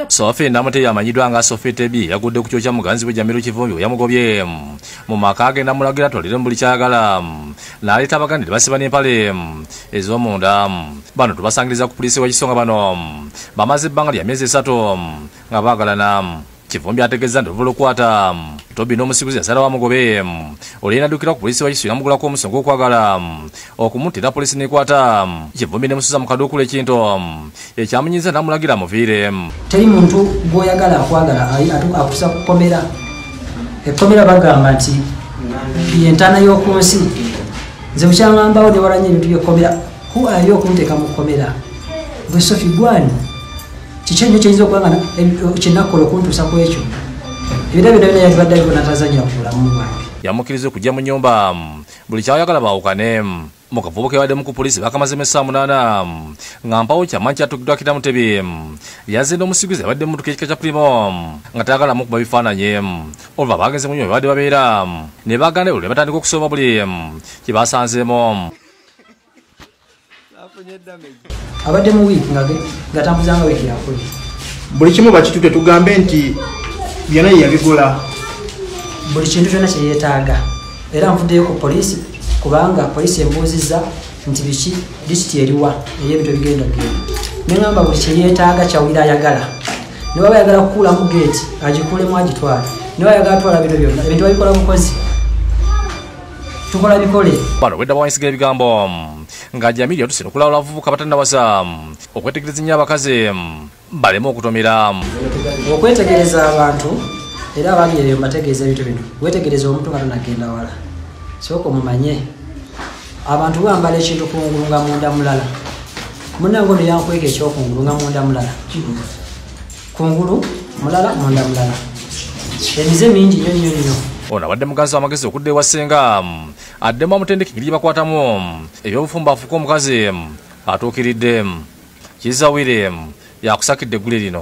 sofi namutebi amanyiddwa nga sofi tebi yagudde ku kyokya muganzi we jamiru kivumbi weyamugobye mu maka agenda mulagira atwalire mu buli kyayagala naleeta abaganda nebasiba n'empale ez'omunda bano tubasangiriza ku puliisi wekisonga bano bamaze ebbanga lya myezi esatu nga baagalana kivumbi ategezza nti oluva olukwata tobi n'omusiguzi yasala wamugobe oluyina addukira ku poliisi wakisuira mugulako omusa ogw'okwagala okumutira poliisi nekwata kivumbi nemusuza mu kaduukulu ekintu ekyamunyiza namulagira muviire teri muntu gwoyagala akwagala akusa kukomera ekkomera bagamba nti yentaana y'oku nsi nze bukyaŋambawo newaranya ebintu byekkomera ku ayo okunteeka mu kkomera gwe sofi gwani kiki enyo kiyinza okuba nga kyenakukola okuntuusa ku ekyo ebira byona byona yalibadde aliko natazanya ku bulamu bwange yamukiriza okujja mu nyumba buli kyayagala baawukane mu kavubo kebaddemu ku poliisi bakamazemu essaa munaana nga mpawo kyamanyi kyatugiddwakira mutebi yazinda omusiguzi abadde mu mutuka ekika kya primo nga tayagalamu okuba bifaananyi oluva baagenze mu nyumba babadde babeera ne baganda ebuli ne batandika okusoma buli kye basanzeemu abadde mu wiiki ngatambuzanga wiiki yakuli buli kimu bakitute tugambe nti byona yeyabigula buli kintu kyona kyeyetaaga era nvuddeyo ku poliisi kubanga poliisi embuuzizza nti biki disiti eriwa eri ebintu ebigenda genda neŋamba buli kyeyetaaga kyawulira ayagala newaba ayagala kukuulamu geeti agikulemu agitwala newa ayagala twala bintu byona ebintu babikola bukozi tukola bikole bano bwedda bawanyisiga ebigambo nga jamiri yatuse nokulawula abavubuka batannawaza okwetegereza ennyo abakazi baleme okutomera okwetegereza abantu era abali eyo mbategeeza ebintu bino wetegereza omuntu nga tonagenda wala sooka omumanye abantu bambala ekintu kungulu nga munda mulala munange ono yankweka ekyokungulu nga munda mulala kungulu mulala munda mulala emize mingi nyo nyo nyo ono abadde muganzi wamagezi okudda ewa ssenga addemu amutendeka engeri gyebakwatamu ebyobufumba afuuka omukazi atuukiridde kizawire yakusakidde eggule lino